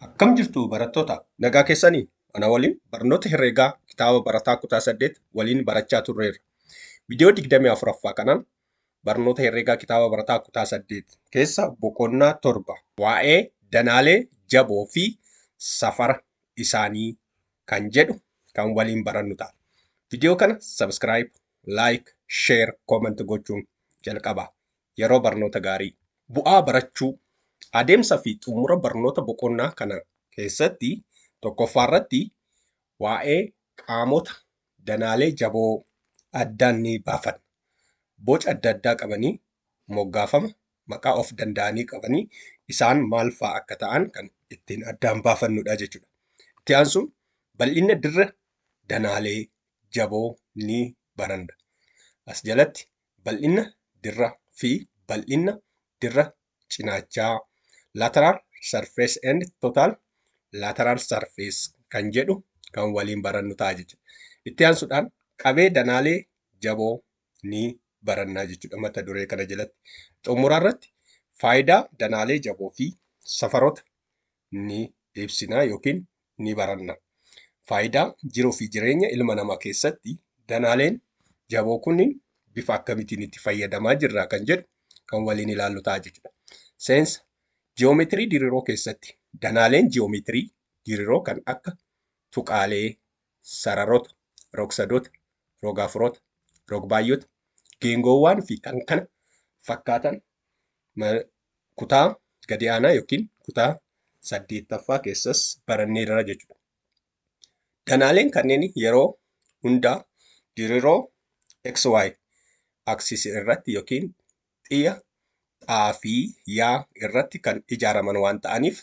Akkam jirtu barattoota? Nagaa keessanii? Ana waliin barnoota herreegaa kitaaba barataa kutaa 8 waliin barachaa turreerra. Viidiyoo 24ffaa kanaan barnoota herreegaa kitaaba barataa kutaa 8 keessa boqonnaa 7 waa'ee danaalee jaboo fi safara isaanii kan jedhu kan waliin barannu ta'a. Viidiyoo kana subscribe, like, share, comment gochuun jalqabaa. Yeroo barnoota gaarii. Bu'aa barachuu. Adeemsa fi xumura barnoota boqonnaa kana keessatti tokkoffaarratti waa'ee qaamota danaalee jaboo addaan ni baafanna. Boca adda addaa qabanii moggaafama maqaa of danda'anii qabanii isaan maal fa'aa akka ta'an kan ittiin addaan baafannudha jechuudha. Itti aansuun bal'inna dirra danaalee jaboo ni baranna. As jalatti bal'inna dirra fi bal'inna dirra cinaachaa lateral surface and total lateral surface kan jedhu kan waliin barannu ta'a jechuudha. Itti aansuudhaan qabee danaalee jaboo ni barannaa jechuudha mata duree kana jalatti. Xumura irratti faayidaa danaalee jaboo fi safaroota ni ibsinaa yookiin ni baranna. Faayidaa jiruu fi jireenya ilma namaa keessatti danaaleen jaboo kunniin bifa akkamitiin itti fayyadamaa jirra kan jedhu kan waliin ilaallu ta'a jechuudha. Seensa ji'oomeetirii diriiroo keessatti danaaleen ji'oomeetirii diriiroo kan akka tuqaalee, sararoota, rogsadoota, rogaafuroota, rogbaayyota, geengoowwaan fi kan kana fakkaatan kutaa gadi aanaa yookiin kutaa saddeettaffaa keessas baranneerra jechuudha. Danaaleen kanneen yeroo hundaa diriroo XY axis irratti yookiin xiyya xaa fi yaa irratti kan ijaaraman waan ta'aniif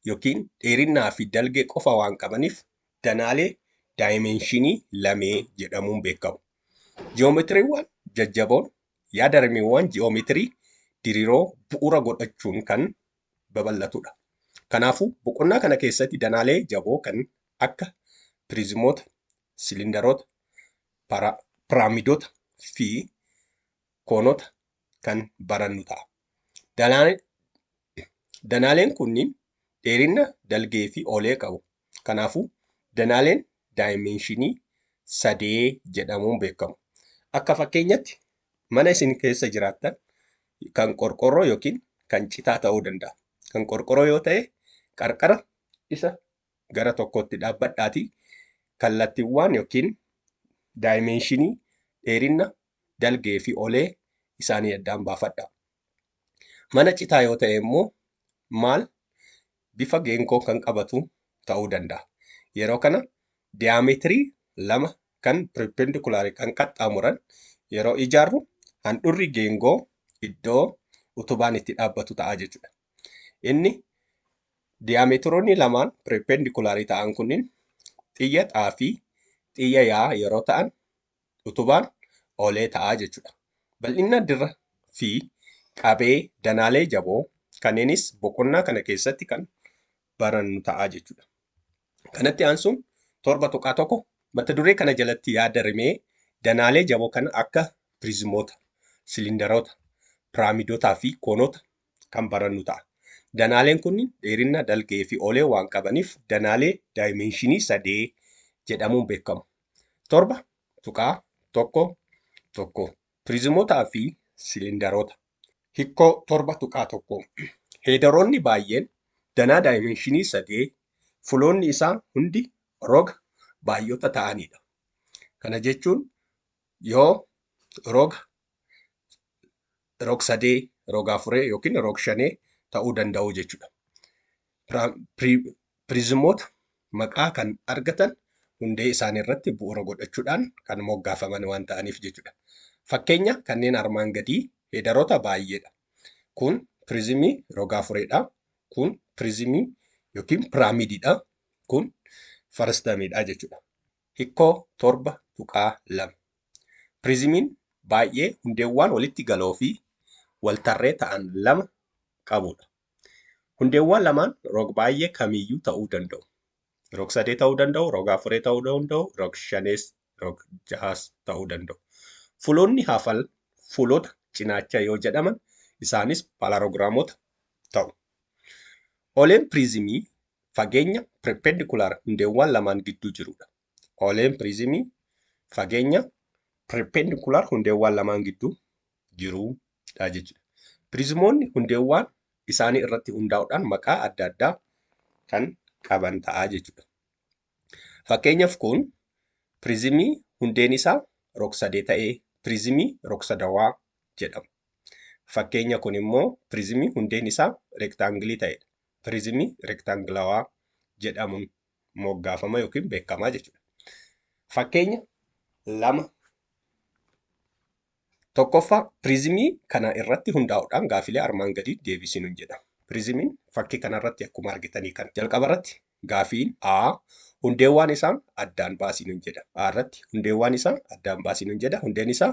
yookiin dheerinnaa fi dalgee qofa waan qabaniif danaalee daayimeenshinii lamee jedhamuun beekamu. Ji'oometiriiwwan jajjaboon Yaada rimeewwan ji'oomeetirii diriiroo bu'uura godhachuun kan babal'atudha. Kanaafuu, boqonnaa kana keessatti danaalee jaboo kan akka piriizimoota, silindaroota, piraamidota fi koonota kan barannu ta'a. Danaaleen kunniin dheerinna, dalgee fi oolee qabu. Kanaafuu, danaaleen daayimeenshinii sadee jedhamuun beekamu. Akka fakkeenyatti mana isin keessa jiraattan kan qorqorroo yookiin kan citaa ta'uu danda'a. Kan qorqorroo yoo ta'e qarqara isa gara tokkootti dhaabbadhaatii kallattiiwwaan yookiin daayimeenshinii dheerinna, dalgee fi olee isaanii addaan baafadhaa. Mana citaa yoo ta'e immoo maal bifa geenkoon kan qabatu ta'uu danda'a. Yeroo kana diyaameetirii lama kan pirippendikulaarii kan qaxxaamuran yeroo ijaarru handhurri geengoo iddoo utubaan itti dhaabbatu ta'a jechuudha. Inni diyaameetiroonni lamaan pirippendikulaarii ta'an kunniin xiyya xaafii, xiyya yaa yeroo ta'an utubaan oolee ta'a jechuudha. Bal'inna dirra fi qabee danaalee jaboo kanneenis boqonnaa kana keessatti kan barannu ta'a jechuudha. Kanatti aansuun torba tuqaa tokko mata duree kana jalatti yaada rimee danaalee jaboo kana akka piriizimoota, silindaroota, piraamidotaa fi koonota kan barannu ta'a. Danaaleen kunniin dheerinna, dalgee fi oolee waan qabaniif danaalee daayimeenshinii sadee jedhamuun beekamu. torba tuqaa tokko tokko piriizimootaa fi siliindaroota hikkoo torba tuqaa tokko heedaroonni baay'een danaa daayimeenshinii sadee fuloonni isaa hundi roga baay'ota ta'anidha. Kana jechuun yoo roga rog-sadee, rog-afuree yookiin rog-shanee ta'uu danda'u jechuudha. Piriizimoota maqaa kan argatan hundee isaanii irratti bu'uura godhachuudhaan kan moggaafaman waan ta'aniif jechuudha. Fakkeenya kanneen armaan gadii heedaroota baay'eedha. Kun piriizimii roga-afureedha. Kun piriizimii yookiin piraamidiidha. Kun faristamiidha jechuudha. Hikkoo 7.2. Piriizimiin baay'ee hundeewwaan walitti galoo fi waltarree ta'an lama qabu dha. Hundeewwaan lamaan rog-baay'ee kamiiyyuu ta'uu danda'u. Rog-sadee ta'uu danda'u, rog-afuree ta'uu danda'u, rog-shanees, rog-jahaas ta'uu danda'u. Fuloonni hafan fuulota cinaachaa yoo jedhaman isaanis palarogiraamota ta'u. Oleen piriizimii fageenya perpendicular hundeewwaan lamaan gidduu jirudha. Ooleen piriizimii fageenya perpendicular hundeewwaan lamaan gidduu jirudha jechuudha. Piriizimoonni hundeewwaan isaanii irratti hundaa'uudhaan maqaa adda addaa kan qaban ta'a jechuudha. Fakkeenyaaf kun piriizimii hundeen isaa rogsadee ta'ee piriizimii rogsadawaa jedhama. Fakkeenya kun immoo piriizimii hundeen isaa rektaangilii ta'edha. pirizimii rektaangilawaa jedhamuun moggaafama yookiin beekama jechuudha. Fakkeenya lama tokkoffaa pirizimii kana irratti hundaa'uudhaan gaafilee armaan gadii deebisinuun jedha. Pirizimiin fakkii kanarratti akkuma argitanii kan jalqaba irratti gaafiin A hundeewwaan isaa addaan baasinuun jedha. A irratti hundeewwaan isaa addaan baasinuun jedha. Hundeen isaa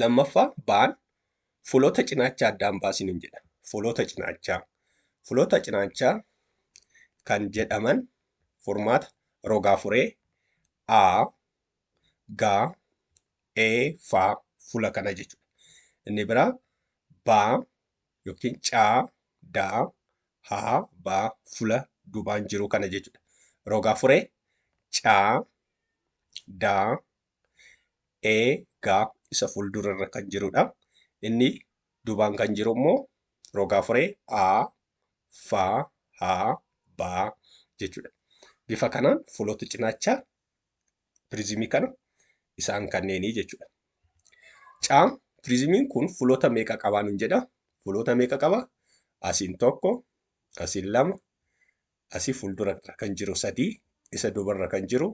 Lammaffaa baan fuloota cinaachaa addaan baasiniin jedha. Fuloota cinaachaa. Fuloota cinaachaa kan jedhaman furmaata rogaa furee A, G, E faa fula kana jechuudha. Inni biraa baa yookiin caa, daa, haa, baa fula dubaan jiru kana jechuudha. Rogaa furee caa, daa, e gaa isa fuuldura irra kan jirudha. Inni duubaan kan jiru immoo rogaa furee a fa ha ba jechuudha. Bifa kanaan fuulota cinaacha piriizimii kana isaan kanneenii jechuudha. Caa piriizimiin kun fuulota meeqa qabaa nun jedha? Fuulota meeqa qaba? Asiin tokko, asiin lama, asi fuldura irra kan jiru sadii isa duba irra kan jiru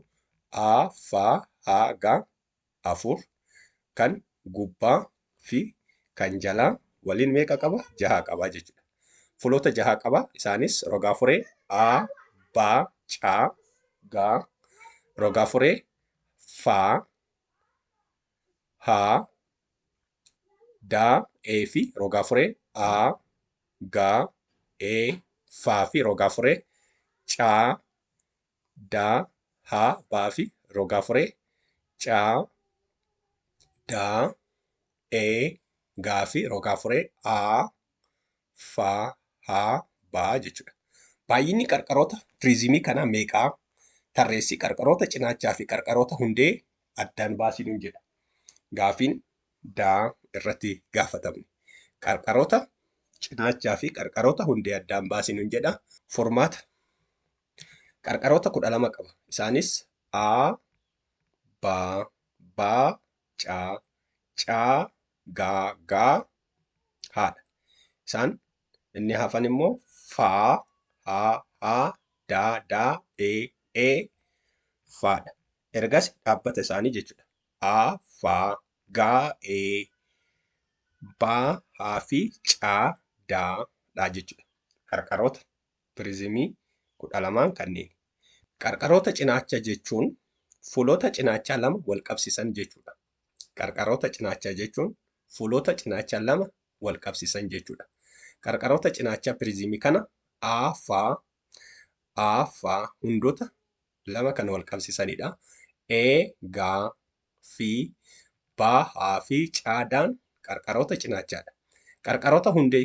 a fa ha ga afur kan gubbaa fi kan jalaa waliin meeqa qaba jaha qaba jechuudha fuloota jaha qaba isaanis rogaa furee a ba ca ga rogaa furee fa ha daa, ee fi rogaa furee aa, gaa, ee, faa fi rogaa furee caa, daa, haa, baa fi rogaa furee caa, daa, ee, gaa fi rogaa furee aa, fa, ha, ba jechuudha. Baay'inni qarqaroota piriizimii kanaa meeqaa? Tarreessi qarqaroota cinaachaa fi qarqaroota hundee addaan baasii nuun jedha. Gaafiin daa irratti gaafatamne. Qarqaroota cinaachaa fi qarqaroota hundee addaan baasii nuun jedha. Furmaata qarqaroota kudha lama qaba. Isaanis A, Ba, Ba, Ca, Ca, Ga, Ga, haadha. Isaan inni hafan immoo faa, haa, haa, daa, daa, ee, ee faadha. Ergas dhaabbata isaanii jechuudha. Aa, faa, gaa, ee, baa, haa fi caa, daa, dhaa jechuudha. Qarqaroota pirizimii kudha lamaan kanneen. Qarqaroota cinaacha jechuun fuulota cinaachaa lama wal qabsiisan jechuudha. Qarqaroota cinaachaa jechuun fuulota cinaachaa lama wal qabsiisan jechuudha. Qarqaroota cinaachaa piriziimii kana A fa A fa hundota lama kan wal qabsiisanidha. E ga fi ba ha fi caadaan qarqaroota cinaachaadha. Qarqaroota hundee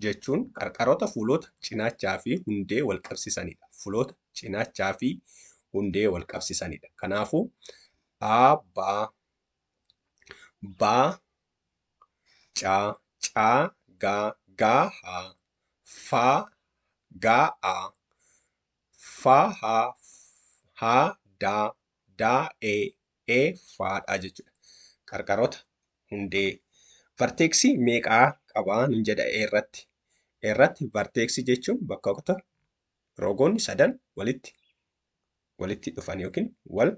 jechuun qarqaroota fuloota cinaachaa fi hundee wal qabsisanidha. Fuloota cinaachaa fi hundee wal qabsisanidha. Kanaafuu aa baa baa caa caa gaa gaa haa faa gaa aa faa haa haa daa da, e, e, fa dha jechuudha. Qarqarota, hundee. Varteeksii meeqa qaba nun jedha e irratti? e irratti varteeksii jechuun bakkoota rogoonni sadan walitti walitti dhufan yookiin wal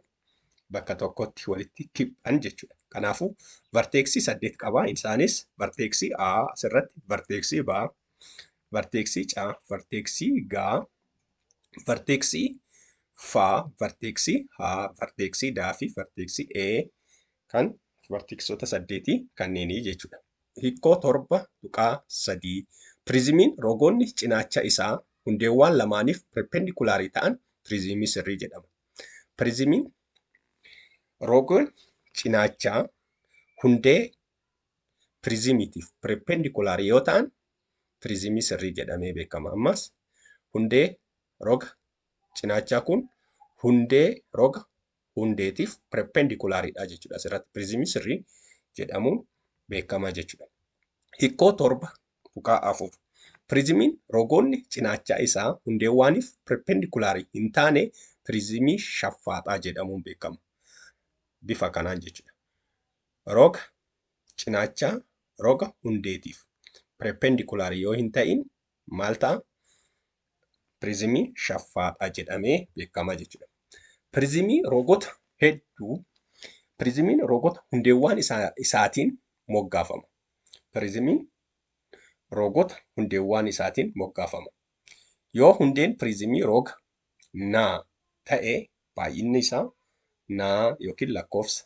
bakka tokkotti walitti kiphan jechuudha. Kanaafuu varteeksii saddeet qaba. Isaanis varteeksii A asirratti, varteeksii B, varteeksii C, varteeksii G, varteeksii faa, varteeksii haa, varteeksii daa fi varteeksii ee kan varteeksoota saddeetii kanneenii jechuudha. Hikkoo torba tuqaa sadii Piriizimiin rogoonni cinaacha isaa hundeewwaan lamaaniif perpendikulaarii ta'an piriizimii sirrii jedhama. Piriizimiin rogoon cinaachaa hundee piriizimiitiif pireeppeendikulaar yoo ta'an piriizimii sirrii jedhamee beekama. Ammas hundee roga cinaachaa kun hundee roga hundeetiif pireeppeendikulaariidha jechuudha. Asirratti piriizimii sirrii jedhamuun beekama jechuudha. Hikkoo torba tuqaa afur. Piriizimiin rogoonni cinaachaa isaa hundeewwaaniif pireeppeendikulaar hin taane piriizimii shaffaaxaa jedhamuun beekama. Bifa kanaan jechuudha. Roga cinaachaa roga hundeetiif perpendikular yoo hin ta'in maal ta'a? Pirizimii shaffaadha jedhamee beekama jechuudha. Pirizimii rogota hedduu pirizimiin rogota hundeewwaan isaa, isaatiin moggaafama. Pirizimiin rogota hundeewwaan isaatiin moggaafama. Yoo hundeen pirizimii roga naa ta'e baay'inni isaa naa yookiin lakkoofsa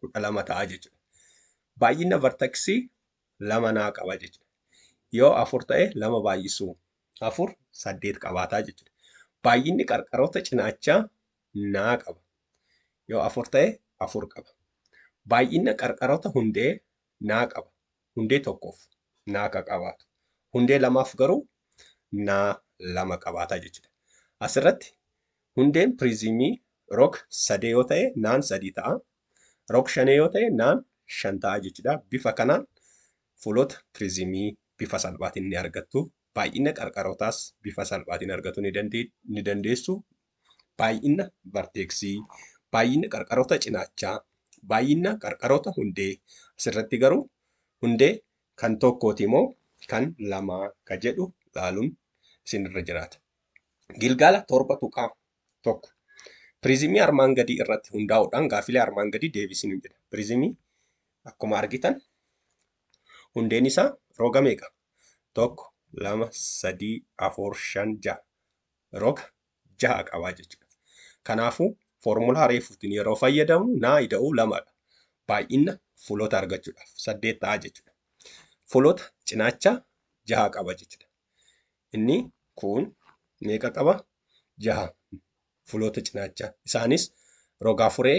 kudha lama ta'a jechuudha. Baay'ina vartaksii lama naa qaba jechuudha. Yoo afur ta'e lama baay'isuu afur saddeet qabaataa jechuudha. Baay'inni qarqaroota cinaachaa naa qaba. Yoo afur ta'e afur qaba. Baay'ina qarqaroota hundee naa qaba. Hundee tokkoof naa ka qabaatu. Hundee lamaaf garuu naa lama qabaata jechuudha. Asirratti hundeen piriizimii rog sadee yoo ta'e naan sadii ta'a. Rog shanee yoo ta'e naan shan ta'a jechuudha. Bifa kanaan fuulota piriizimii bifa salphaatiin ni argattu. Baay'ina qarqarootaas bifa salphaatiin argatuu ni dandeessu. baay'ina varteeksii, baay'ina qarqaroota cinaachaa, baay'ina qarqaroota hundee asirratti garuu hundee kan tokkooti moo kan lamaa ka jedhu laaluun isinirra jiraata. Gilgaala torba tuqaa tokko. Piriizimii armaan gadii irratti hundaa'uudhaan gaaffilee armaan gadii deebisinu jedha. Piriizimii akkuma argitan hundeen isaa roga meeqa? Tokko, lama, sadii, afur, shan, ja'a. roga jaha qaba jechuudha. Kanaafuu foormulaa reefuutiin yeroo fayyadamnu naa ida'uu lamadha. Baay'ina fuloota argachuudhaaf saddeet ta'a jechuudha. Fuloota cinaacha jaha qaba jechuudha. Inni kun meeqa qaba? Jaha fuloota cinaacha. Isaanis rogaa furee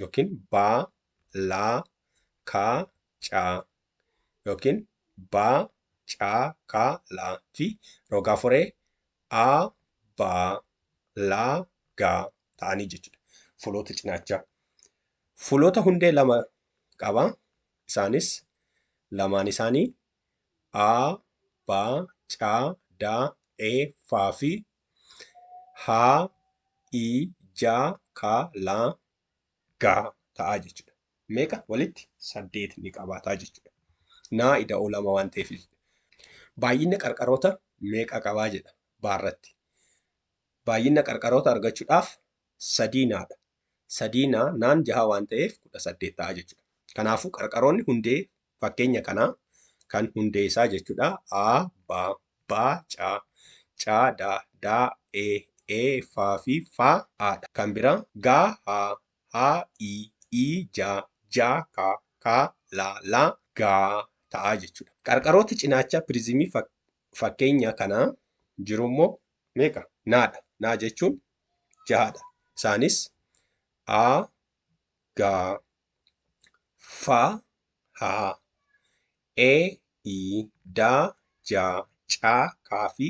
yookiin baa, laa, kaa, caa yookiin baa, caa, kaa, laa fi rogaa foree aa, baa, laa, gaa ta'anii jechuudha. Fuloota cinaachaa. Fuloota hundee lama qaba. Isaanis lamaan isaanii A, B, C, D, E, F fi H, I, J, K, L, G ta'a jechuudha. Meeqa walitti? Saddeet ni qabaata jechuudha. Naa ida'oo lama waan ta'eef baay'ina qarqaroota meeqa qabaa jedha baarratti. Baay'ina qarqaroota argachuudhaaf sadii naadha. Sadii naa naan jaha waan ta'eef kudha saddeet ta'a jechuudha. Kanaafuu qarqaroonni hundee Fakkeenya kanaa kan hundee isaa jechuudha a ba ba ca ca da da e e fa fi fa a dha. Kan biraa ga ha ha i i ja ja ka ka la la ga ta'a jechuudha. Qarqarooti cinaacha pirizimii fakkeenya kanaa jiru immoo meeqa? na dha. na jechuun jaha dha. Isaanis a ga. fa ha e i da ja ca ka fi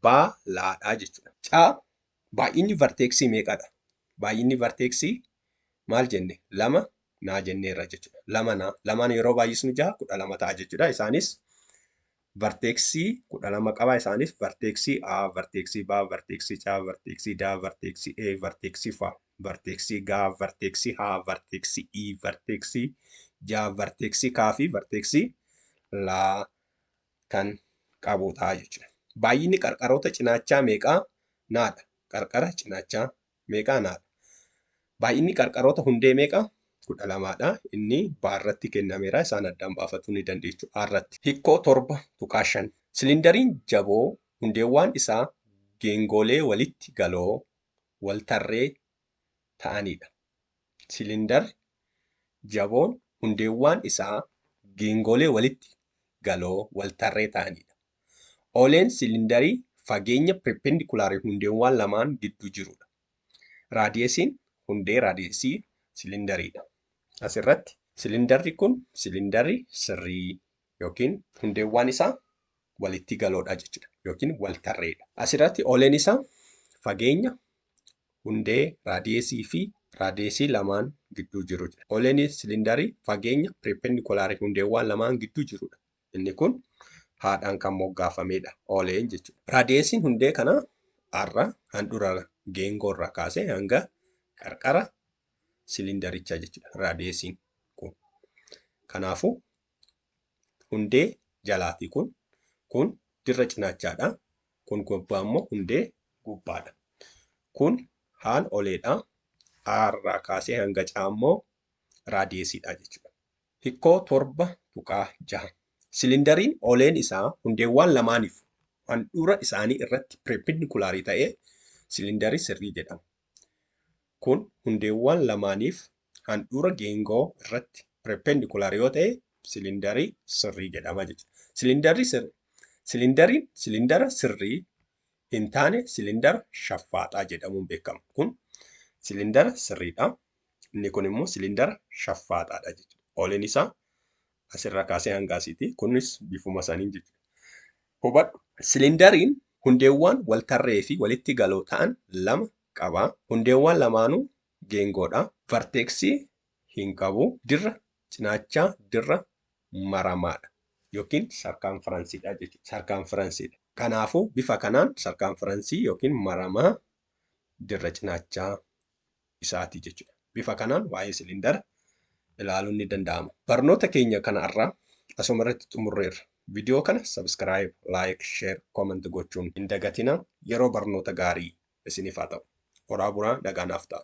ba la dha jechuudha. ca Baay'inni varteeksii meeqadha? Baay'inni varteeksii maal jenne? lama naa jenneerra jechuudha. Lama naa lamaan yeroo baay'isnu ja'a kudha lama ta'a jechuudha. Isaanis varteeksii 12 qaba. Isaanis varteeksii A, varteeksii B, varteeksii C, varteeksii D, varteeksii E, varteeksii F, varteeksii G, varteeksii H, varteeksii I, varteeksii J, varteeksii K fi varteeksii L kan qabudha jechuudha. Baay'inni qarqaroota cinaachaa meeqa? Naadha. Qarqara cinaachaa meeqaa naa dha. Baay'inni qarqaroota hundee meeqa? 12 dha. Inni B irratti kennameera. Isaan addaan baafachuu ni dandeechu A irratti. Hikkoo 7.5. Silindariin jaboo hundeewwaan isaa geengoolee walitti galoo, waltarree, ta'anii dha. Silindarri jaboon hundeewwaan isaa geengoolee walitti galoo, waltarree, ta'anii dha. Oleen silindarii fageenya perpendikularii hundeewwaan lamaan gidduu jiru dha. Raadiyesiin hundee raadiyesii silindarii dha. As irratti silindarri kun silindarri sirrii yookiin hundeewwaan isaa walittii galoo dha jechuu dha yookiin waltarree dha. As irratti oleen isaa fageenya hundee raadiyesii fi raadiyesii lamaan gidduu jiru jedha. Oleen silindarii fageenya perpendikularii hundeewwaan lamaan gidduu jiru dha. Inni kun haadhaan kan moggaafameedha. Ooleen jechuudha. Raadiyeesiin hundee kanaa arra handhura geengoo irraa kaasee hanga qarqara siliindarichaa jechuudha. Raadiyeesiin kun. Kanaafuu hundee jalaa fi kun kun dirra cinaachaadha. Kun gubbaa immoo hundee gubbaadha. Kun haan oleedha. A irraa kaasee hanga caa immoo raadiyeesiidha jechuudha. Hikkoo 7.6. Silindariin ooleen isaa hundeewwaan lamaaniif handhuura isaanii irratti pireeppindikulaarii ta'ee silindarii sirrii jedhama. Kun hundeewwaan lamaaniif handhuura geengoo irratti pireeppendikulaar yoo ta'e silindarii sirrii jedhama jechuudha. Silindariin silindara sirrii hin taane silindara shaffaaxaa jedhamuun beekama. Kun silindara sirriidha. Inni kun immoo silindara shaffaaxaadha jechuudha. Oliin isaa asirraa kaasee hanga asiiti. Kunis bifuma saniin jechuudha. Hubadhu silindariin hundeewwan waltarree fi walitti galoo ta'an lama qaba. Hundeewwan lamaanuu geengoodha. Varteeksii hin qabu. Dirra cinaachaa dirra maramaadha yookiin sarkaanfiransiidha jechuudha. Sarkaanfiransiidha. Kanaafuu bifa kanaan sarkaanfiransii yookiin maramaa dirra cinaachaa isaati jechuudha. Bifa kanaan waa'ee siliindara ilaaluun ni danda'ama. Barnoota keenya kana irraa asuma irratti xumurreerra. Viidiyoo kana subscribe, like, share, comment gochuun hin dagatina. Yeroo barnoota gaarii isiniif haa ta'u. Horaa bulaa nagaa naaf ta'a.